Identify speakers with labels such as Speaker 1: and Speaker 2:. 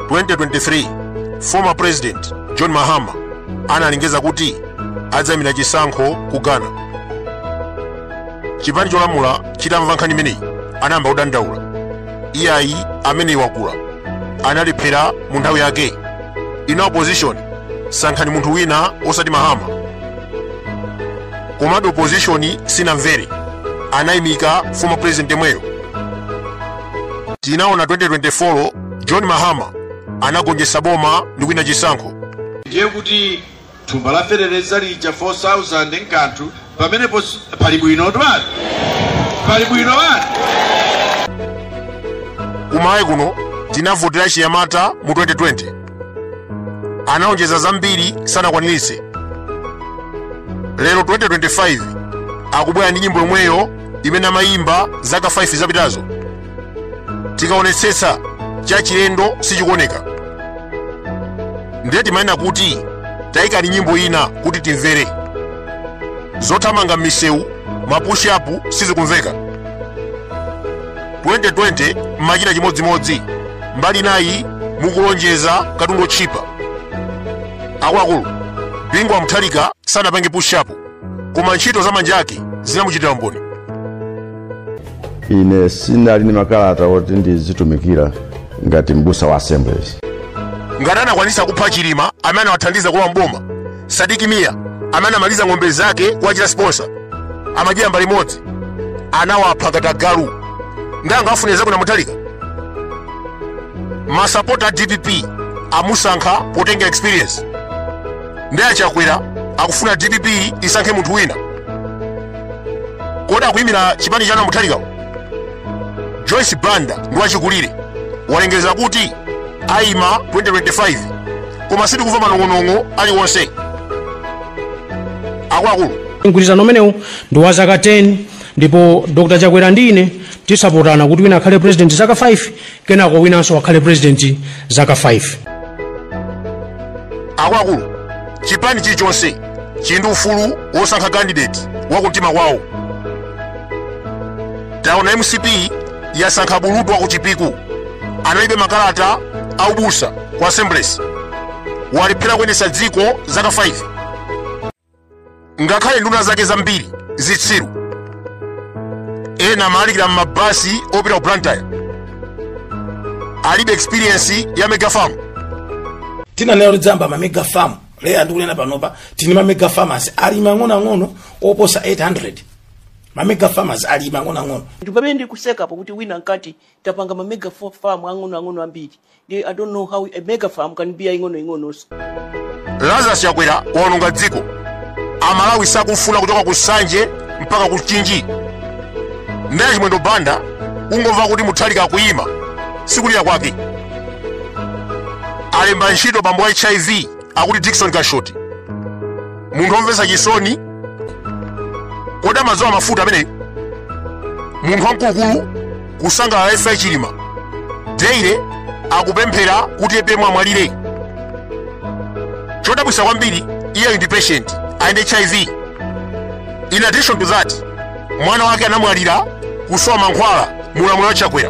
Speaker 1: 2023 former president john mahama analengeza kuti adzayimira chisankho ku ghana chipani cholamula chitamva nkhani imeneyi anayamba kudandaula iyayi ameneyi wakula analephera mu nthawi yake inu a opposition sankhani munthu wina osati mahama komabe opposition sinamvere anayimika former president yemweyo tinaona 2024 John Mahama anagonjetsa boma ndi kuwina chisankho. ndiye
Speaker 2: kuti thumba la feteleza lija 4000 n'kanthu pamenepo pali bwino twati pali bwino wati
Speaker 1: Kumalawi kuno tinavotera chinyamata mu 2020. Analonjeza zambiri sanakwaniritse. Lero 2025 akubwera ndi nyimbo yomweyo imene amayimba zaka 5 zapitazo. tikaonetsetsa chachilendo sichikuoneka ndiye timanena kuti tayikani nyimbo ina kuti timvere zothamanga m'misewu mapushapu sizikumveka 2020 mmachita chimodzimodzi mbali nayi mukulonjeza katundu wotchipa akuluakulu bingu wa mutharika sanapange pushapu koma ntchito za manja ake zinamuchitira
Speaker 3: umboni ine sinali ndi makalata oti ndizitumikira ngati mbusa wa assemblies ngati
Speaker 1: anakwanisa kupha chilima amene anawathandiza kulowa mboma sidik mia amene anamaliza ng'ombe zake kuwachita sponsor amadyera mbale imodzi anawapha ngati agalu nanga afunira zabwino a mutharika masapota a dpp amusankha potengera experience ndiye a chakwera akufuna dpp isankhe munthu wina kodi akuyimira chipani chanu a mutharikawo joyce banda ndi wachikulire walengeza kuti ayima 2025 koma sitikumva manong'onong'o aliwonse akuluakulu mgwirizano
Speaker 4: umenewu ndi wa zaka 10 ndipo dr chakwera ndi ine tizapatsana kuti wina akhale president zaka 5 kenako winanso akhale president zaka
Speaker 1: 5 akuluakulu chipani chilichonse chili ndi ufulu wosankha kandideti wakumtima kwawo taona mcp yasankha bulutu wakuchipiku alibe makalata aubusa ku assemblies walephera kuyendetsa dziko zaka 5 ngakhale nduna zake zambiri zitsiru ena amalalikira m'mabasi opita ku blantyre alibe experience ya mega
Speaker 5: farm ananena kuti adzayamba ma mega farm lero ndikunena panopa tili ndi ma mega farmers ali mang'onoang'ono oposa 800 ma mega farmers ali mang'onoang'ono ndipamene ndikusekapo
Speaker 6: kuti wina mkati tapanga ma mega fa- farm ang'ono ang'ono ambiri Ndi- i don't know how a mega farm can be aing'ono
Speaker 1: ing'ononso lazarus chakwera waononga dziko amalawi akumufuna kuchoka ku Nsanje mpaka ku Mchinji ndiye Chimwendo banda kungomva kuti Mutharika akuyima sikulira kwake alemba ntchito bambo wa HIV akuti Dickson Kashoti munthu omvetsa chisoni kodi amadzola mafuta ameneyi munthu wamkulukulu kusangalala imfa ya Chilima daily akupemphera kuti APM amwalire chodabwitsa kwambiri iye ndi patient ali ndi hiv in addition to that mwana wake anamwalira kusowa mankhwala mu ulamuliro wa Chakwera